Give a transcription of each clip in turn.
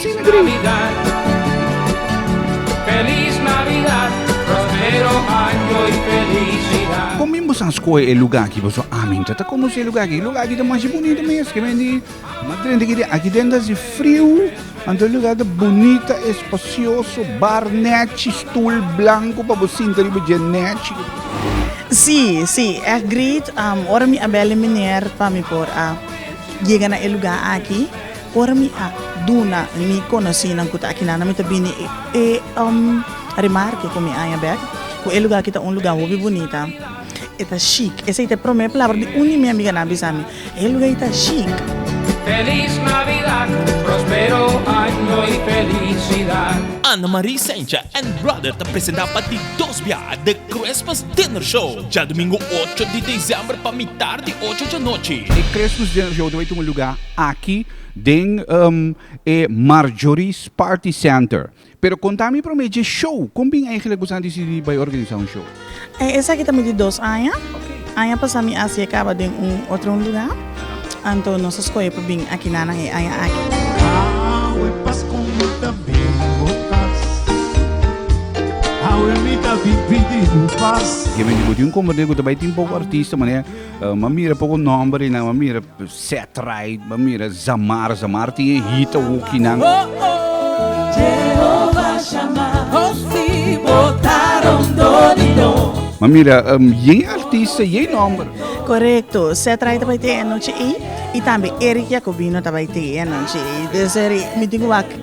Sin dri. Kon men boso a skohe e lugá ki boso a mincha ta konosé e lugá aki? E lugá aki ta masha bunita mes ke men di madrente ke di aki den ta haci friu anto e lugá ta bunita espacioso bar nechi stoel blanco pa bo sinta riba dje nechi. Sí sí ech great ora mi a bel e meneer pa mi por a yega na e lugá aki. Ora mi a duna mi konosinan ku ta aki nan mi ta bini e remarke ku mi aña bèk ku e luga aki ta un luga hopi bunita e ta shik esei ta e promé palabra di un di mi amiganan bisa mi e luga ei ta shik. Ana Marie Sencha and Brother ta presenta pa di dos bia The Christmas Dinner Show djadumingu ocho di desèmber pa mitar di ocho djanochi. E Christmas Dinner Show ta bai tuma luga. aki den e Marjorie's Party Center. Pero konta mi promé dje show, kon bin eigentlek buska a disidí bai organisá un show? E esaki ta midi dos aña. Aña pasá mi a sié kaba den un otro un lugá, anto nos a skohe pa bin aki na nan e aña aki. Awe pas kon mi ta bin bo kas. Awe mi ta bin pidi bo pas. Ke bendí bo tin un komberdé ku ta bai tin poko artista, manera, m'a mira poko nòmber i nan m'a mira. Set rai ba mira zamar zamar tin e hita woki nan. Ma mira yen e artista yen nomber. Korekto set rai ta bai te anochi ey y tambe Eric Jacobino ta bai te anochi ey deseri mi tin ku wak.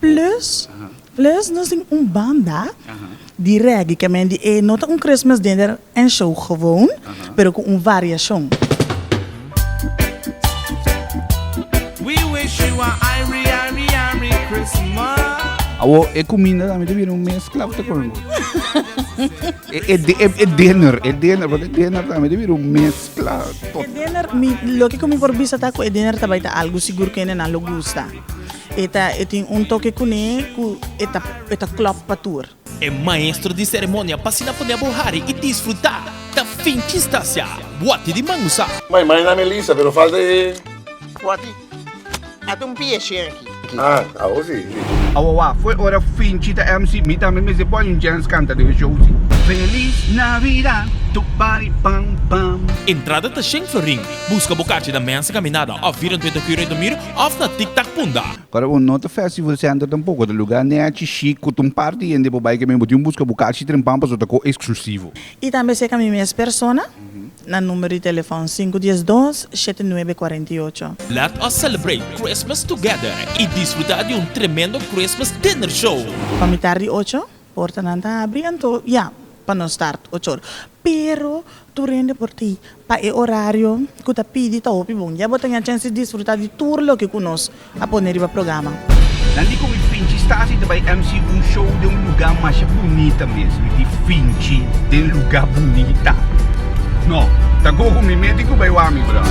Plus plus nos tin un banda di reggae ke men di e no ta un Christmas dinner en show gewoon pero ku un variashon. Awor e kuminda tambe ta bira un mezkla, bo ta kor no? E dinner e dinner pasobra e dinner tambe ta bira un mezkla total. E dinner mi loke ku mi por bisa ta ku e dinner ta bai ta algu sigur ku hende nan lo gusta. E ta e tin un toke kuné ku e ta e ta klòp pa tur. E maestro di seremonia pa sina pone abo hari i disfrutá ta finchi Stasia Boati di Mangusa. Mai mai na Melissa pero falta e. Boati. A ta un pieshe aki. Ah, awo si, si. Awo wak fue ora finchi ta MC mi tambe mester pone un jens kanta den e show si. Feliz Navidad tu bari pam pam. Entrada ta shen florin. Buska bo kachi na Mensa Kaminada of Vierentrente Curei Domir òf na Tiktak Punda. Kòrda bo no ta Festival Center tampoko, ta lugá nèchi shik ku ta un par di hende pa bai ke mi bo tin buska bu kachi trempan pasobra ta ko eksklusivo. I tambe seka mi mes persona na numero di telefòn sinku dies dos, shete nuebe kuarenta i ocho. Let us celebrate Christmas together i disfrutá di un tremendo Christmas Dinner Show! Pa mitar di ocho Portanan ta abri anto ya pa nos start ocho ora. Pero tur hende por ti pa e orario ku ta pidi ta hopi bon. Ya bo ta ña chens di disfruta di tur loke ku nos a pone riba programa. Nan di ku mi finchi sta si ta bai MC un show den un luga masha bunita mes. Mi di finchi den luga bunita. No, ta gogo mi mes tin ku bai wami, brother.